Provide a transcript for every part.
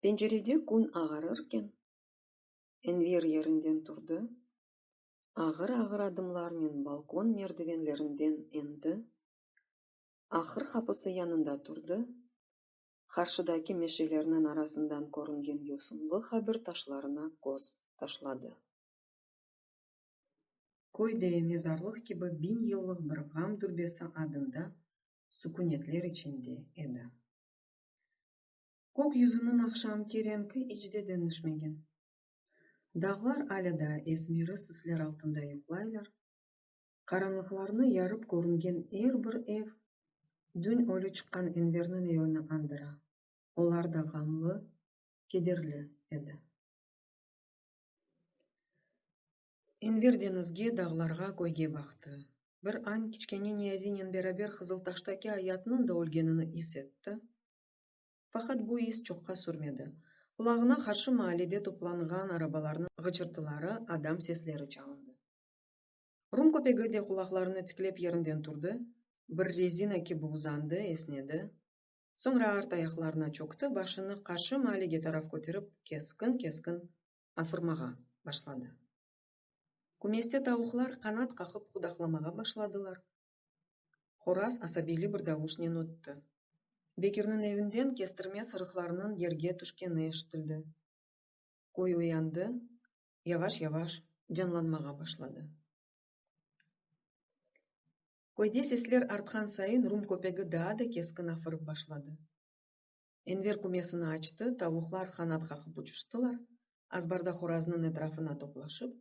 Pencerede kün ağarırken, Enver yerinden turdı, ağır-ağır adımlarnen balkon merdivenlerinden endi, ahır qapısı yanında turdı, qarşıdaki meşelerniñ arasından körüngen yosunlı qabir taşlarına köz taşladı. Köyde mezarlıq kibi biñ yıllıq bir ğam türbesi adında sukünetler içinde edi. Kök yüzüniñ aqşamki renki iç de deñişmegen. Dağlar alâ daa esmeri sisler altında yuqlaylar, qaranlıqlarnı yarıp körüngen er bir ev düñ ölü çıqqan Enverniñ evini andıra, olar da ğamlı, kederli edi. Enver deñizge, dağlarğa, köyge baqtı. Bir añ kiçkene Niyazinen beraber Qızıltaştaki ayatnıñ da ölgenini is etti. Faqat bu is çoqqa sürmedi. Qulağına qarşı maalede toplanğan arabalarnıñ ğıçırtıları, adam sesleri çalındı. Rum köpegi de qulaqlarını tiklep yerinden turdı, bir rezina kibi uzandı, esnedi. Soñra art ayaqlarına çökti, başını qarşı maalige taraf köterip, keskin-keskin afırmağa başladı. Kümeste tavuqlar qanat qaqıp qudaqlamağa başladılar. Horaz asabiyli bir davuşnen ötti. Bekirniñ evinden kestirme sırıqlarınıñ yerge tüşkeni eşitildi. Köy uyandı, yavaş-yavaş canlanmağa başladı. Köyde sesler artqan sayın rum köpegi daa da keskin afırıp başladı. Enver kümesini açtı, tavuqlar qanat qaqıp uçuştılar, azbarda horaznıñ etrafına toplaşıp,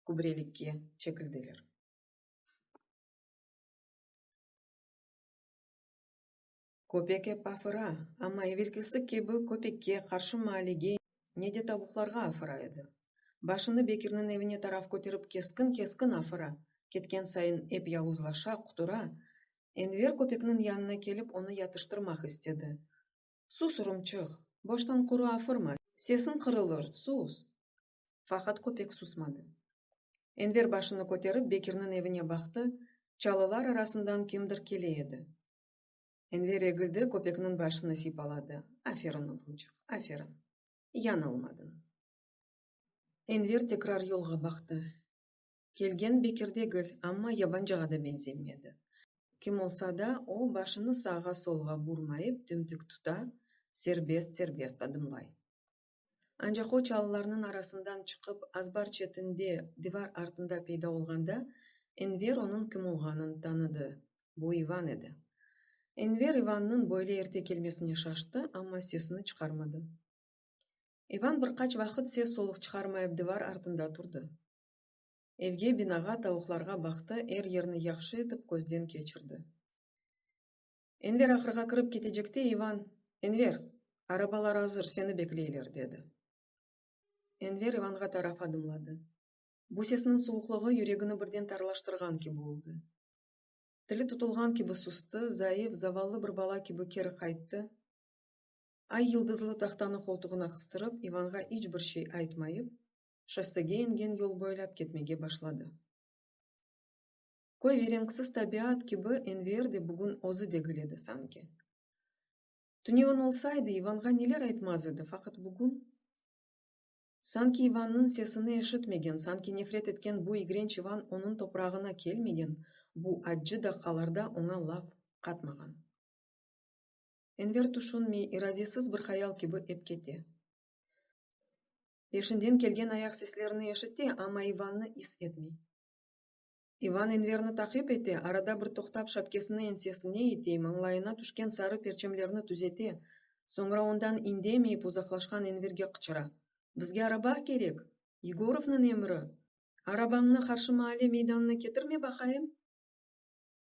kübrelikke çekildiler. Köpek ep afıra, amma evelkisi kibi köpekke, qarşı maalege, ne de tavuqlarğa afıra edi. Başını Bekirniñ evine taraf köterip keskin-keskin afıra, ketken sayın ep yavuzlaşa, qutura. Enver köpekniñ yanına kelip onı yatıştırmaq istedi. Sus, urumçıq, boştan quru afırma, sesiñ qırılır, sus! Faqat köpek susmadı. Enver başını köterip Bekirniñ evine baqtı, çalılar arasından kimdir kele edi. Enver egildi, köpekniñ başını sipaladı. Aferin, oğruncıq, aferin. Yañılmadıñ. Enver tekrar yolğa baqtı. Kelgen Bekir degil, amma yabancığa da benzemedi. Kim olsa da, o, başını sağğa-solğa burmayıp, dimdik tuta, serbest-serbest adımlay. Ancaq o, çalılarnıñ arasından çıqıp, azbar çetinde, divar artında peyda olğanda, Enver onıñ kim olğanın tanıdı, bu İvan edi. Enver İvannıñ böyle erte kelmesine şaştı, amma sesini çıqarmadı. İvan bir qaç vaqıt ses-soluq çıqarmayıp divar artında turdı. Evge, binağa, tavuqlarğa baqtı, er yerni yahşı etip közden keçirdi. Enver ahırğa kirip ketecekte İvan, Enver, arabalar azır, seni bekleyler, dedi. Enver İvanğa taraf adımladı. Bu sesniñ suvuqlığı yüregini birden tarlaştırğan kibi oldı. Tili tutulğan kibi sustı, zayıf, zavallı bir bala kibi keri qayttı. Ay yıldızlı tahtanı qoltuğına qıstırıp, İvanğa iç bir şey aytmayıp, şossege ingen yol boylap ketmege başladı. Köy ve renksiz tabiat kibi Enver de bugün özü degil edi sanki. Tünevin olsaydı, İvanğa neler aytmaz edi, faqat bugün? Sanki İvannıñ sesini eşitmegen, sanki nefret etken bu igrenç İvan onıñ toprağına kelmegen, bu accı daqqalarda oña laf qatmağan. Enver tüşünmey, iradesiz bir hayal kibi ep kete. Peşinden kelgen ayaq seslerini eşite, amma İvannı is etmey. İvan Enverni taqip ete, arada bir toqtap şapkesini ensesine ite, mañlayına tüşken sarı perçemlerni tüzete, soñra ondan indemeyip uzaqlaşqan Enverge qıçıra, Bizge araba kerek! Yegorovnıñ emri! Arabañnı Qarşı Maale meydanına ketirme baqayım!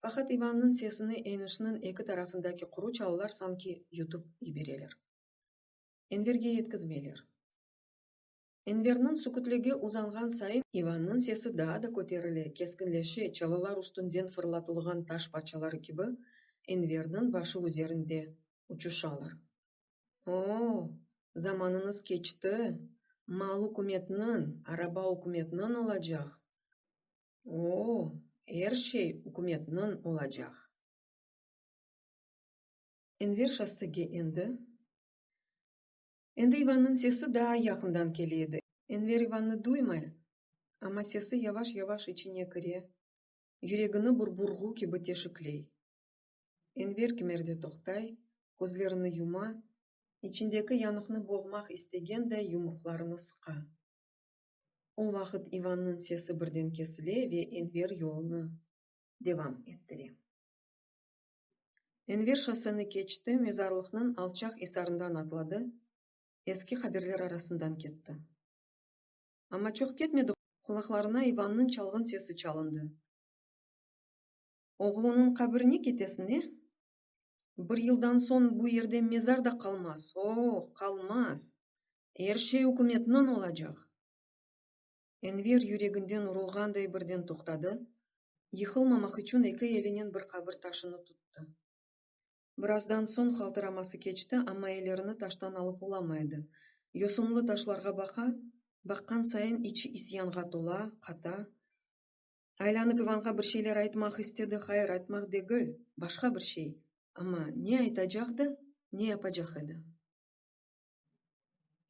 Faqat İvannıñ sesini eñişniñ eki tarafındaki quru çalılar sanki yutıp yibereler. Enverge yetkizmeyler. Enverniñ sükütligi uzanğan sayın, İvannıñ sesi daa da köterile, keskinleşe, çalılar üstünden fırlatılğan taş parçaları kibi, Enverniñ başı üzerinde uçuşalar. O-o, zamanıñız keçti, mal ükümetniñ, araba ükümetniñ olacaq. O-o, er şey ükümetniñ olacaq. Enver şossege endi. Endi İvannıñ sesi daa yaqından kele edi. Enver İvannı duymay, amma sesi yavaş-yavaş içine kire, yüregini bir burğu kibi teşikley. Enver kimerde toqtay, közlerini yuma, içindeki yanıqnı boğmaq istegenday yumruqlarını sıqa. O vaqıt İvannıñ sesi birden kesile ve Enver yolunı devam ettire. Enver şosseni keçti, mezarlıqnıñ alçaq isarından atladı, eski qaberler arasından ketti. Amma çoq ketmedi, qulaqlarına İvannıñ çalğın sesi çalındı. Oğlunıñ qabrine ketesine, bir yıldan soñ bu yerde mezar da qalmaz, o-o, qalmaz, er şey ükümetniñ olacaq! Enver yüreginden urulğanday birden toqtadı, yıqılmamaq içün eki elinen bir qabir taşını tuttı. Birazdan soñ qaltıraması keçti, amma ellerini taştan alıp olamay edi, yosunlı taşlarğa baqa, baqqan sayın içi isyanğa tola, qata. Aylanıp İvanğa bir şeyler aytmaq istedi, hayır, aytmaq degil, başqa bir şey, amma ne aytacaqdı, ne yapacaq edi?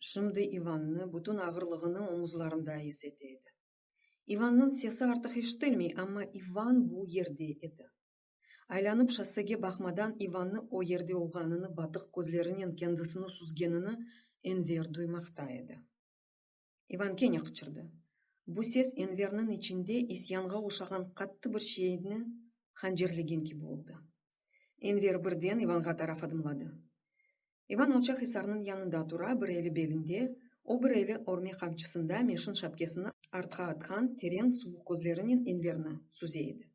Şimdi İvannı bütün ağırlığını omuzlarında is ete edi. İvannıñ sesi artıq eşitilmey, amma İvan bu yerde edi. Aylanıp şossege baqmadan İvannı o yerde olğanını, batıq közlerinen kendisini süzgenini Enver duymaqta edi. İvan kene qıçırdı. Bu ses Enverniñ içinde isyanğa oşağan qattı bir şeyni hancerlegen kibi oldı. Enver birden İvanğa taraf adımladı. İvan alçaq isarnıñ yanında tura, bir eli belinde, o bir eli örme qamçısında meşin şapkesini artqa atqan teren suvuq közlerinen Enverni süze edi.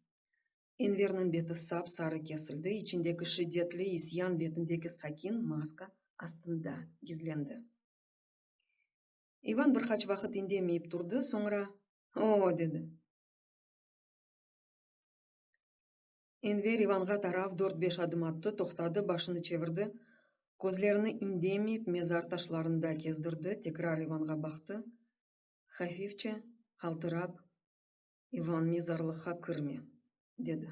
Enverniñ beti sap-sarı kesildi, içindeki şiddetli isyan betindeki sakin maska astında gizlendi. İvan bir qaç vaqıt indemeyip turdı, soñra, Oo! dedi. Enver İvanğa tarav dört-beş adım attı, toqtadı, başını çevirdi, közlerini indemeyip mezar taşlarında kezdirdi, tekrar İvanğa baqtı, hafifçe qaltırap, İvan, mezarlıqqa kirme! dedi.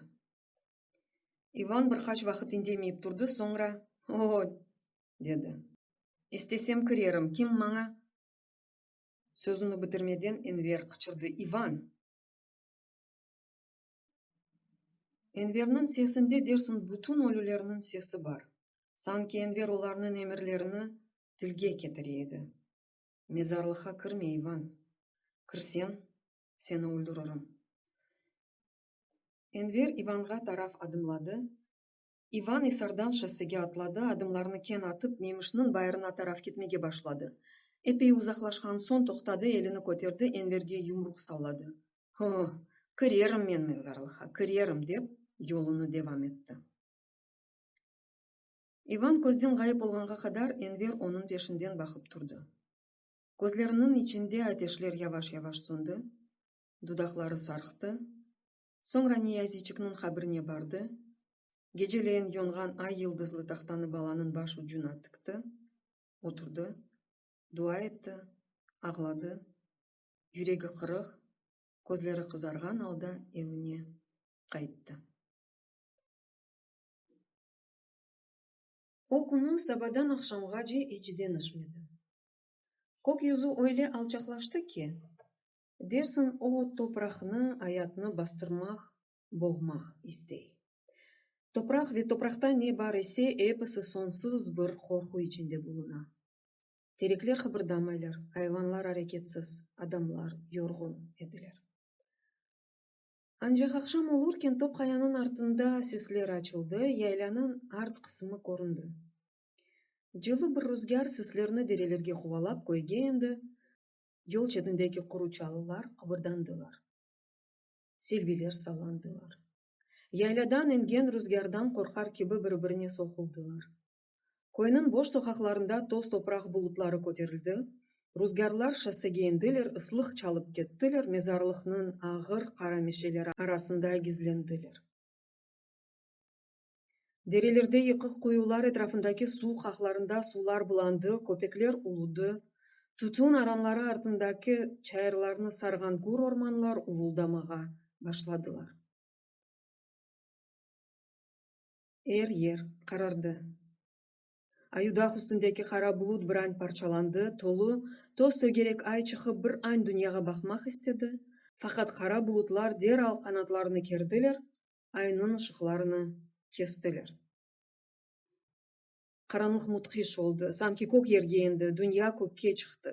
İvan bir qaç vaqıt indemeyip turdı, soñra, O-o! dedi. İstesem kirerim, kim maña? Sözüni bitirmeden Enver qıçırdı, İvan! Enverniñ sesinde dersiñ bütün ölülerniñ sesi bar. Sanki Enver olarnıñ emirlerini tilge ketire edi. Mezarlıqqa kirme, İvan! Kirseñ, seni öldüririm. Enver İvanğa taraf adımladı. İvan isardan şossege atladı, adımlarını keñ atıp, Memişniñ bayırına taraf ketmege başladı. Epey uzaqlaşqan soñ toqtadı, elini köterdi, Enverge yumruq salladı. Ho, kirerim men mezarlıqqa, kirerim, dep, yolunı devam etti. İvan közden ğayıp olğanğa qadar Enver onıñ peşinden baqıp turdı. Közleriniñ içinde ateşler yavaş-yavaş söndi, dudaqları sarqtı, soñra Niyaziçikniñ qabrine bardı, geceleyin yonğan ay yıldızlı tahtanı balanıñ baş ucuna tikti, oturdı, dua etti, ağladı, yüregi qırıq, közleri qızarğan alda evine qayttı. O künü sabadan aqşamğace iç deñişmedi. Kökyüzü öyle alçaqlaştı ki, Dersiñ, o topraqnı, ayatnı bastırmaq, boğmaq istey. Topraq ve topraqta ne bar ise, episi sonsuz bir qorqu içinde buluna. Terekler qıbırdamaylar, ayvanlar areketsiz, adamlar yorğun ediler. Ancaq aqşam olurken top qayanıñ artında sisler açıldı, yaylânıñ art qısımı köründi. Cılı bir ruzgâr sislerni derelerge quvalap köyge endi, Yol çetindeki quru çalılar qıbırdandılar. Selbiler sallandılar. Yayladan ingen ruzgârdan qorqar kibi bir-birine soquldılar. Köyniñ boş soqaqlarında toz-topraq bulutları köterildi, ruzgârlar şossege endiler, ıslıq çalıp kettiler, mezarlıqnıñ ağır qara meşeleri arasında gizlendiler. Derelerde yıqıq quyular etrafındaki suv qaqlarında suvlar bulandı, köpekler uludı, tütün aranları artındaki çayırlarnı sarğan gür ormanlar uvuldamağa başladılar. Er yer qarardı. Ayudağ üstündeki qara bulut bir añ parçalandı, tolu, toz tögerek ay çıqıp bir añ dünyağa baqmaq istedi, faqat qara bulutlar deral qanatlarını kerdiler, aynıñ ışıqlarını kestiler. Qaranlıq mudhiş oldı, sanki kök yerge endi, dünya kökke çıqtı.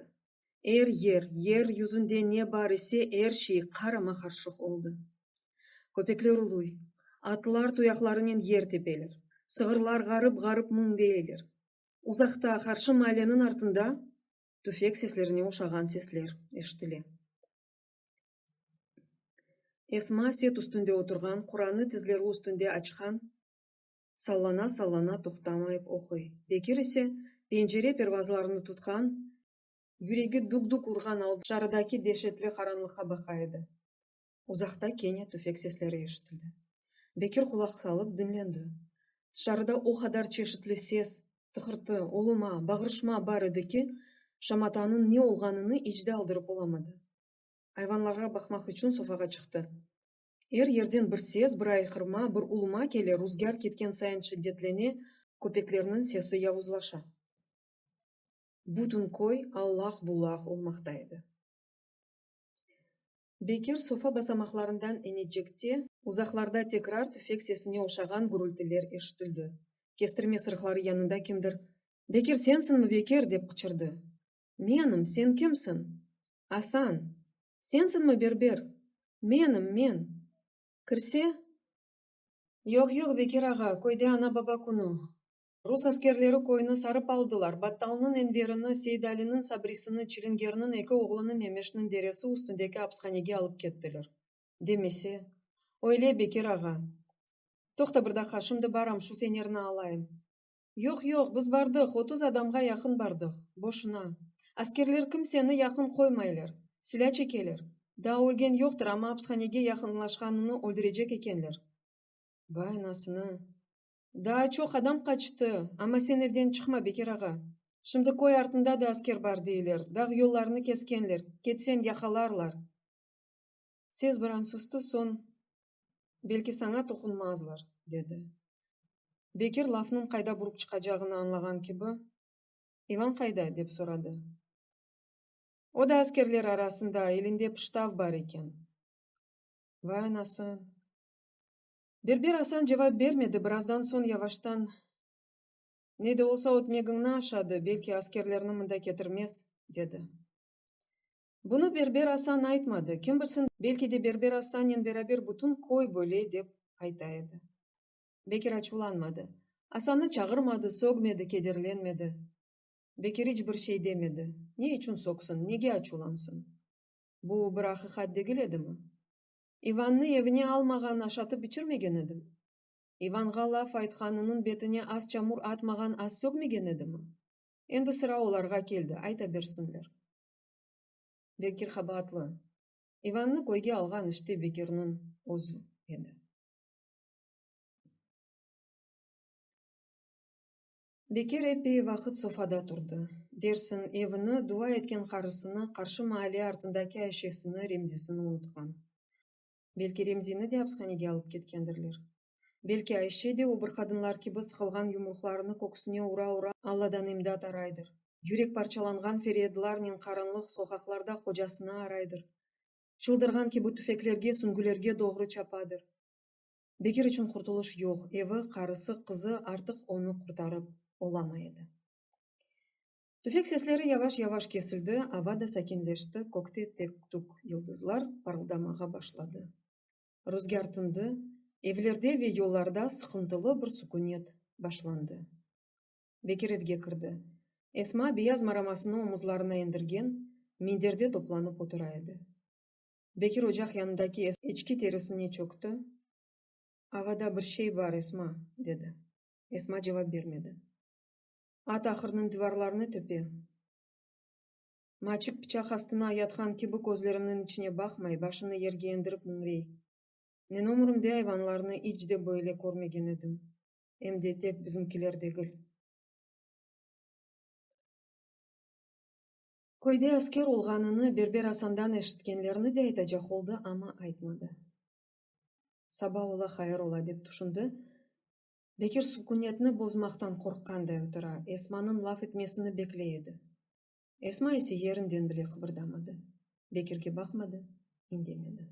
Er yer, yer yüzünde ne bar ise, er şey qarama-qarşıq oldı. Köpekler uluy, atlar tuyaqlarınen yer tepeler, sığırlar ğarıp-ğarıp müñleyeler. Uzaqta, qarşı maaleniñ artında tüfek seslerine oşağan sesler eşitile. Esma set üstünde oturğan, Quranı tizleri üstünde açqan, sallana-sallana toqtamayıp oquy. Bekir ise, pencere pervazlarını tutqan, yüregi dük-dük urğan alda dışarıdaki deşetli qaranlıqqa baqa edi. Uzaqta kene tüfek sesleri eşitildi. Bekir qulaq salıp diñlendi. Dışarıda o qadar çeşitli ses, tıqırtı, uluma, bağırışma bar edi ki, şamatanıñ ne olğanını iç de aldırıp olamadı. ayvanlarğa baqmaq içün sofağa çıqtı. Er yerden bir ses, bir ayqırma, bir uluma kele, ruzgâr ketken sayın şiddetlene, köpeklerniñ sesi yavuzlaşa. Bütün köy allaq-bullaq olmaqta edi. Bekir sofa basamaqlarından enecekte, uzaqlarda tekrar tüfek sesine oşağan gürültiler eşitildi. Kestirme sırıqları yanında kimdir, Bekir, sensiñmi, Bekir? dep qıçırdı. Menim, sen kimsiñ? Asan, Sensiñmi berber? Menim, men. Kirse? Yoq, yoq, Bekir ağa, köyde ana-baba künü. Rus askerleri köyni sarıp aldılar, Battalnıñ Enverini, Seydaliniñ Sabrisini, Çilingernıñ eki oğlunı Memeşniñ deresi üstündeki apishanege alıp kettiler. Demese. Öyle, Bekir ağa. Toqta bir daqqa, şimdi baram, şu fenerni alayım. Yoq, yoq, biz bardıq, otuz adamğa yaqın bardıq. Boşuna. Askerler kimseni yaqın qoymaylar. Silâ çekeler. Daa ölgen yoqtır, amma apishanege yaqınlaşqanını öldürecek ekenler. Vay anasını! Daa çoq adam qaçtı. Amma sen evden çıqma, Bekir ağa. Şimdi köy artında da asker bar deyler, dağ yollarını keskenler, ketseñ yaqalarlar. Sez bir an sustu, soñ, Belki saña toqunmazlar, dedi. Bekir lafnıñ qayda burıp çıqacağını añlağan kibi, İvan qayda? dep soradı. O da askerler arasında, elinde pıştav bar eken. Vay anası! Berber Asan cevap bermedi, birazdan soñ yavaştan, Ne de olsa ötmegiñni aşadı, belki askerlerni mında ketirmez, dedi. Bunı Berber Asan aytmadı, kim bilsin, belki de Berber Asannen beraber bütün köy böyle dep ayta edi. Bekir açuvlanmadı. Asannı çağırmadı, sögmedi, kederlenmedi. Bekir iç bir şey demedi. Ne içün sögsün, nege açuvlansın? Bu bir aqiqat degil edimi? İvannı evine almağan, aşatıp içirmegen edim? İvanğa laf aytqanınıñ betine az çamur atmağan, az sögmegen edimi? Endi sıra olarğa keldi, ayta bersinler. Bekir qabaatlı. İvannı köyge alğan işte Bekirniñ özü edi. Bekir epey vaqıt sofada turdı. Dersiñ, evini, dua etken qarısını, qarşı maale artındaki Ayşesini, Remzisini unutqan. Belki Remzini de apishanege alıp ketkendirler. Belki Ayşe de o bir qadınlar kibi sıqılğan yumruqlarını köksüne ura-ura Alladan imdat araydır, yürek parçalanğan feryadlarnen qaranlıq soqaqlarda qocasını araydır, çıldırğan kibi tüfeklerge, süngülerge doğru çapadır. Bekir içün qurtulış yoq, evi, qarısı, qızı artıq onı qurtarıp olamay edi. Tüfek sesleri yavaş-yavaş kesildi, ava da sakinleşti, kökte tek-tük yıldızlar parıldamağa başladı. Ruzgâr tındı, evlerde ve yollarda sıqıntılı bir sukünet başlandı. Bekir evge kirdi. Esma beyaz maramasını omuzlarına endirgen, minderde toplanıp otura edi. Bekir ocaq yanındaki eçki terisine çökti, Avada bir şey bar, Esma, dedi. Esma cevap bermedi. at ahırnıñ divarlarını töpe. Maçik pıçaq astına yatqan kibi közlerimniñ içine baqmay, başını yerge endirip müñrey. Men ömrümde ayvanlarnı iç de böyle körmegen edim, em de tek bizimkiler degil. Köyde asker olğanını Berber Asandan eşitkenlerini de aytacaq oldı, amma aytmadı. Saba ola, hayır ola, dep tüşündi. Bekir sukünetni bozmaqtan qorqqanday otura, Esmanıñ laf etmesini bekley edi. Esma ise yerinden bile qıbırdamadı, Bekirge baqmadı, indemedi.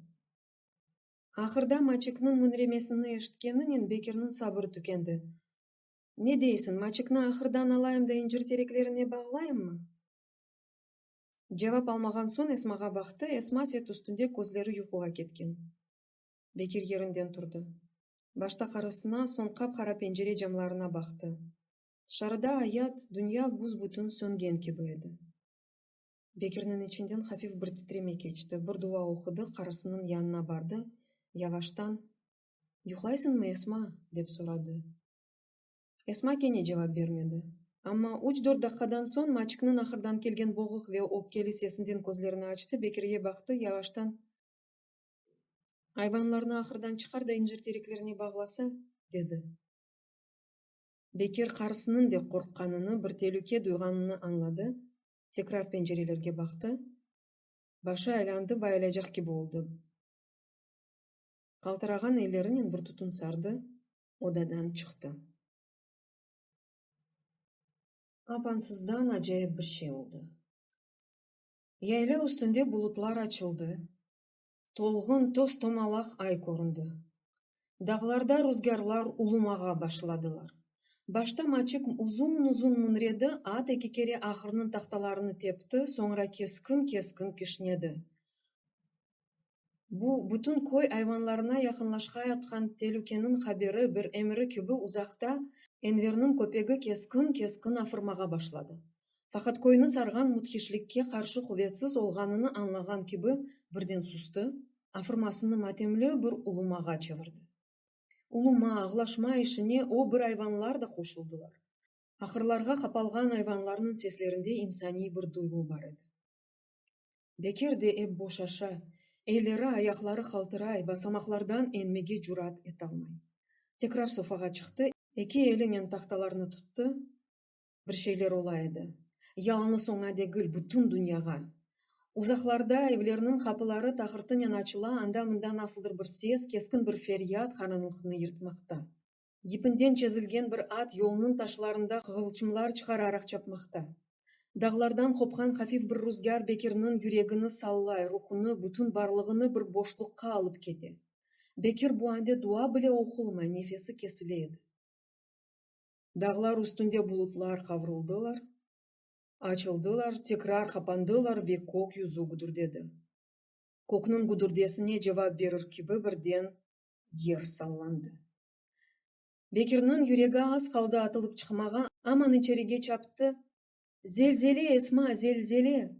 Ahırda maçıknıñ müñremesini eşitkeninen Bekirniñ sabırı tükendi. Ne deysiñ, maçıknı ahırdan alayım da incir tereklerine bağlayımmı? Cevap almağan soñ Esmağa baqtı, Esma set üstünde közleri yuquğa ketken. Bekir yerinden turdı. Başta qarısına, soñ qap-qara pencere camlarına baqtı. Tışarıda ayat, dünya büs-bütün söngen kibi edi. Bekirniñ içinden hafif bir titreme keçti, bir dua oqudı, qarısınıñ yanına bardı, yavaştan, Yuqlaysıñmı, Esma? dep soradı. Esma kene cevap bermedi. Amma üç-dört daqqadan soñ Maçikniñ ahırdan kelgen boğuq ve öpkeli sesinden közlerini açtı, Bekirge baqtı, yavaştan, Ayvanlarnı ahırdan çıqar da incir tereklerine bağlasa, dedi. Bekir qarısınıñ de qorqqanını, bir telüke duyğanını añladı, tekrar pencerelerge baqtı, başı aylandı, bayılacaq kibi oldı. Qaltırağan ellerinen bir tutun sardı, odadan çıqtı. Apansızdan acayip bir şey oldı. Yayla üstünde bulutlar açıldı, Tolğun toz-tomalaq ay köründi. Dağlarda ruzgârlar ulumağa başladılar. Başta Maçik uzun-uzun münredi, at eki kere ahırnıñ tahtalarını tepti, soñra keskin-keskin kişnedi. Bu, bütün köy ayvanlarına yaqınlaşqayatqan telükeniñ haberi, bir emri kibi uzaqta Enverniñ köpegi keskin-keskin afırmağa başladı. Faqat köyni sarğan müthişlikke qarşı quvetsiz olğanını añlağan kibi birden sustı, afırmasını matemli bir ulumağa çevirdi. Uluma, ağlaşma işine o bir ayvanlar da qoşuldılar. Ahırlarğa qapalğan ayvanlarnıñ seslerinde insaniy bir duyğu bar edi. Bekir de ep boşaşa, elleri, ayaqları qaltıray, basamaqlardan enmege cürat etalmay. Tekrar sofağa çıqtı, eki elinen tahtalarnı tuttı. bir şeyler ola edi. Yalıñız oña degil, bütün dünyağa. Uzaqlarda evlerniñ qapıları taqırtınen açıla, anda-mında nasıldır bir ses, keskin bir feryat qaranlıqnı yırtmaqta. Yipinden çezilgen bir at yolnıñ taşlarında qığılçımlar çıqararaq çapmaqta. Dağlardan qopqan hafif bir ruzgâr Bekirniñ yüregini sallay, ruhunı, bütün barlığını bir boşluqqa alıp kete. Bekir bu ande dua bile oqulmay, nefesi kesile edi. Dağlar üstünde bulutlar qavruldılar, açıldılar, tekrar qapandılar ve kök yüzü güdürdedi. Kökniñ güdürdesine cevap berir kibi birden yer sallandı. Bekirniñ yüregi az qaldı atılıp çıqmağa, aman içerige çaptı, Zelzele, Esma, zelzele!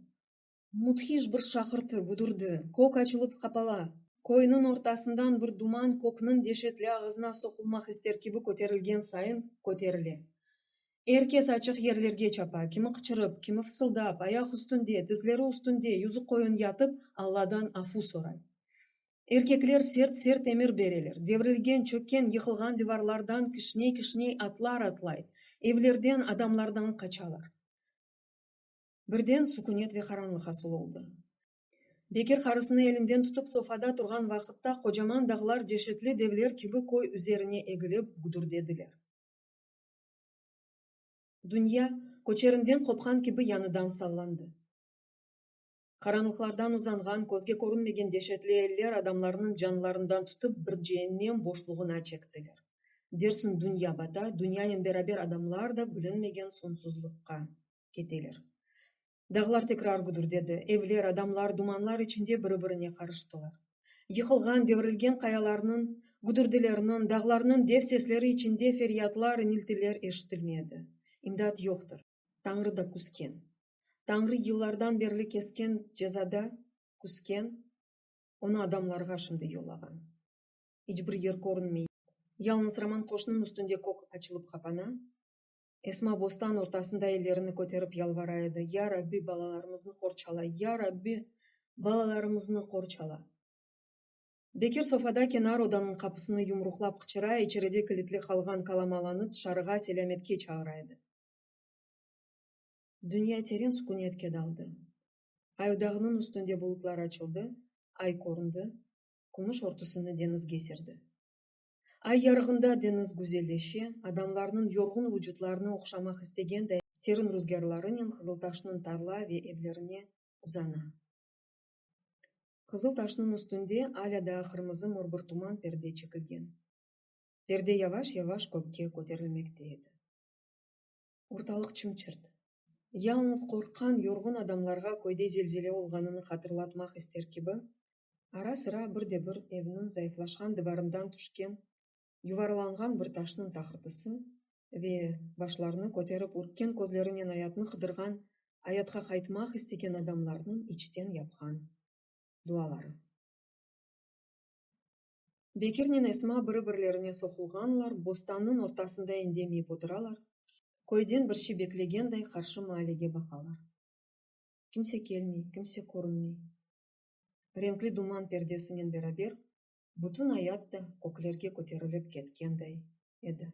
Müthiş bir şaqırtı, gudurdı, kök açılıp qapala, köyniñ ortasından bir duman kökniñ deşetli ağızına soqulmaq ister kibi köterilgen sayın köterile. Er kes açıq yerlerge çapa, kimi qıçırıp, kimi fısıldap, ayaq üstünde, tizleri üstünde yüzü qoyun yatıp, Alladan afu soray. Erkekler sert-sert emir bereler, devrilgen, çökken, yıqılğan divarlardan kişney-kişney atlar atlay, evlerden, adamlardan qaçalar. Birden sukünet ve qaranlıq hasıl oldı. Bekir qarısını elinden tutıp sofada turğan vaqıtta qocaman dağlar deşetli devler kibi köy üzerine egilip gudürdediler. Dünya köçerinden qopqan kibi yañıdan sallandı. Qaranlıqlardan uzanğan közge körünmegen deşetli eller adamlarnıñ canlarından tutıp bir ceennem boşluğına çektiler. Dersiñ dünya bata, dünyanen beraber adamlar da bilinmegen soñsuzlıqqa. keteler. Dağlar tekrar güdürdedi, evler, adamlar dumanlar içinde biri-birine qarıştılar. Yıqılğan, devrilgen qayalarnıñ güdürdileriniñ, dağlarnıñ dev sesleri içinde feryatlar, iniltiler eşitilmedi. İmdat yoqtır. Tañrı da küsken. Tañrı yıllardan berli kesken cezada küsken, onı adamlarğa şimdi yollağan. İç bir yer körünmey. Yalıñız Roman qoşnıñ üstünde kök açılıp qapana, Esma bostan ortasında ellerini köterip yalvara edi, Ya Rabbi, balalarımıznı qorçala, Ya Rabbi, balalarımıznı qorçala! Bekir sofada kenar odanıñ qapısını yumruqlap qıçıra, içeride kilitli qalğan kalamalanı tışarığa selâmetke çağıra edi. Dünya teren sukünetke daldı. Ay dağnıñ üstünde bulutlar açıldı, ay köründi, kümüş örtüsini deñizge serdi. Ay yarığında deñiz güzelleşe, adamlarnıñ yorğun vucutlarını oqşamaq istegenday serin ruzgârlarınen Qızıltaşnıñ tarla ve evlerine uzana. Qızıl taşnıñ üstünde alâ daa qırmızı mor bir tuman perde çekilgen. Perde yavaş-yavaş kökke köterilmekte edi. Ortalıq çım-çırt. Yalıñız qorqqan, yorğun adamlarğa köyde zelzele olğanını hatırlatmaq ister kibi, ara-sıra bir de bir evniñ zayıflaşqan divarından tüşken yuvarlanğan bir taşnıñ taqırtısı ve başlarını köterip ürkken közlerinen ayatnı qıdırğan, ayatqa qaytmaq istegen adamlarnıñ içten yapqan duaları. Bekirnen Esma biri-birlerine soqulğanlar, bostannıñ ortasında endemeyip oturalar, köyden bir şey beklegenday qarşı maalege baqalar. Kimse kelmey, kimse körünmey. Renkli duman perdesinen beraber bütün ayat da köklerge köterilip ketkenday edi.